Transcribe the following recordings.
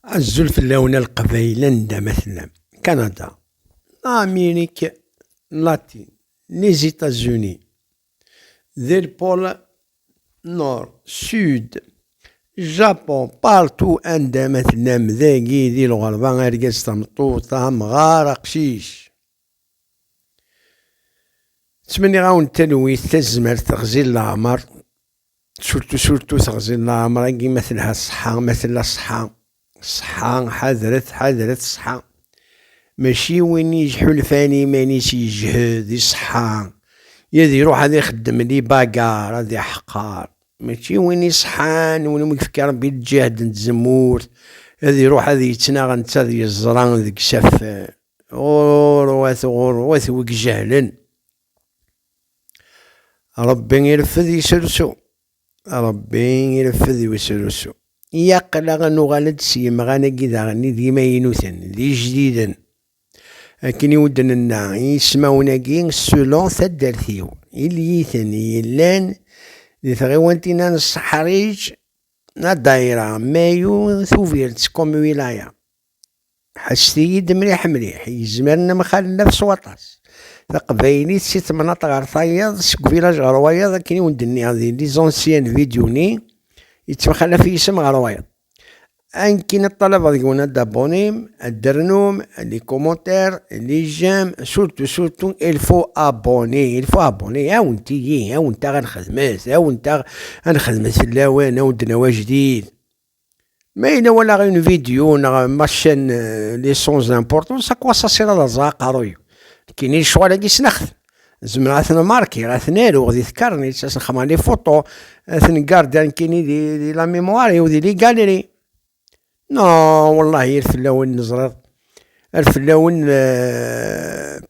Azul fell-awen a Leqbayel anda ma tellam. Kanada, Amerik Latin, Lizitazuni, di Lpol Nord, Sud, Japon, partout anda ma tellam dagi di lɣerba, argaz, tameṭṭut, amɣar, aqcic. Ttmenniɣ-awen talwit, tazmert, ɣzil leɛmer, Surtu surtu teɣzi n ɛemṛ-agi ma telha ṣṣeḥḥa, ma tella ṣṣeḥḥa. Ṣṣeḥḥa, ḥadret, ḥadret ṣṣeḥḥa. Mačči win yettḥulfan i yiman-is yejhed i ṣṣeḥḥa, ad iṛuḥ ad ixeddem di bagar, ad iḥqer. Mačči win iṣeḥḥan, win i m-yefka Ṛebbi lǧehd n tzemmurt, ad iṛuḥ ad yettnaɣ netta ad yeẓra deg-s afran. Ɣuṛwat, ɣuṛwat wi ijehlen! Ṛebbi ireffed yesrusu. Ṛebbi ireffed yesrusu. Yaql-aɣ ad nuɣal-d s yemɣan-agi daɣen d imaynuten, d ijdiden. Akken i wen-d-nenna, ismawen-agi, selon taddart-iw, iliyiten yellan di tɣiwantin-a n Seḥriǧ, Adaira, Mayu, Tubiret, Komwilaya. Ḥesset-iyi-d mliḥ mliḥ, yezmer nemxallaf s waṭas. Taqbaylit si temnaḍt ɣer tayeḍ, seg uvilaj ɣer wayeḍ, akken i wen-d-nniɣ di lizansiyen n vidyu-nni, yettemxallaf yisem ɣer wayeḍ. Ankkin ad ṭṭalabeḍ deg-wen ad d-abonnem, ad d-ternum, les commentaires, les j'aime, surtout surtout il faut abonner, il faut abonner, ɛawnet-iyi, ɛawnet-aɣ ad nexdmet, ɛawnet-aɣ ad nexdmet fell-awen, ad wen-d-nawi ajdid. Ma yella wala une vidéo neɣ ma chan euh, les sons d'importance à quoi ça sert à ẓa aqaruy kini lecɣal agi snext zemreɣ ad ten-markiɣ ad ten-aruɣ di tkarnit ad sen-xemmeɣ les photos ad ten-garder kini di, di la mémoire ou di les galeries non wallahi ar fell-awen neẓriḍ ar fell-awen euh,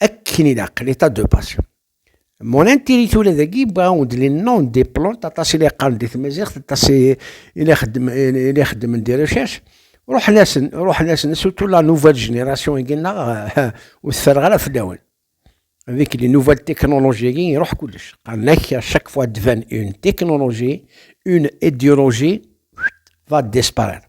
Akken ilaq, l'état de base. Mon intérêt tura dagi bɣa-wen-d les noms des plantes aṭas i la yeqqaren di tmaziɣt aṭas i la ixeddmen des recherches ruḥen-asen ruḥen-asen surtout la nouvelle génération i gennaɣ ur teffereɣ ara fell-awen avec les nouvelles technologies i iruḥ kullec qqaren-ak à chaque fois devant une technologie une idéologie va disparaître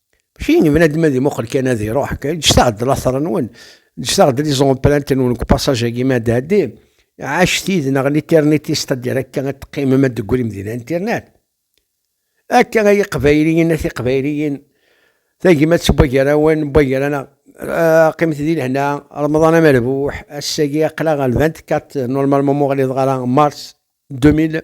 Mačči n bnadem ad imuqel kan ad iruḥ, ǧǧet-aɣ-d later-nwen, ǧǧet-aɣ-d liẓomplant-nwen deg upassage-agi mi ad d-tɛeddi, ɛacet yid-neɣ liternitis, c'est-à-dire akka ad teqqimem ad d-teggrim di linternet. Akka ay iqbayliyen a tiqbayliyin, tagmat n wagrawen n wagraneɣ, qqimet di lehna, remḍan amerbuḥ, ass-agi aql-aɣ le 24 normalement m'uɣliḍeɣ ara mars 2000.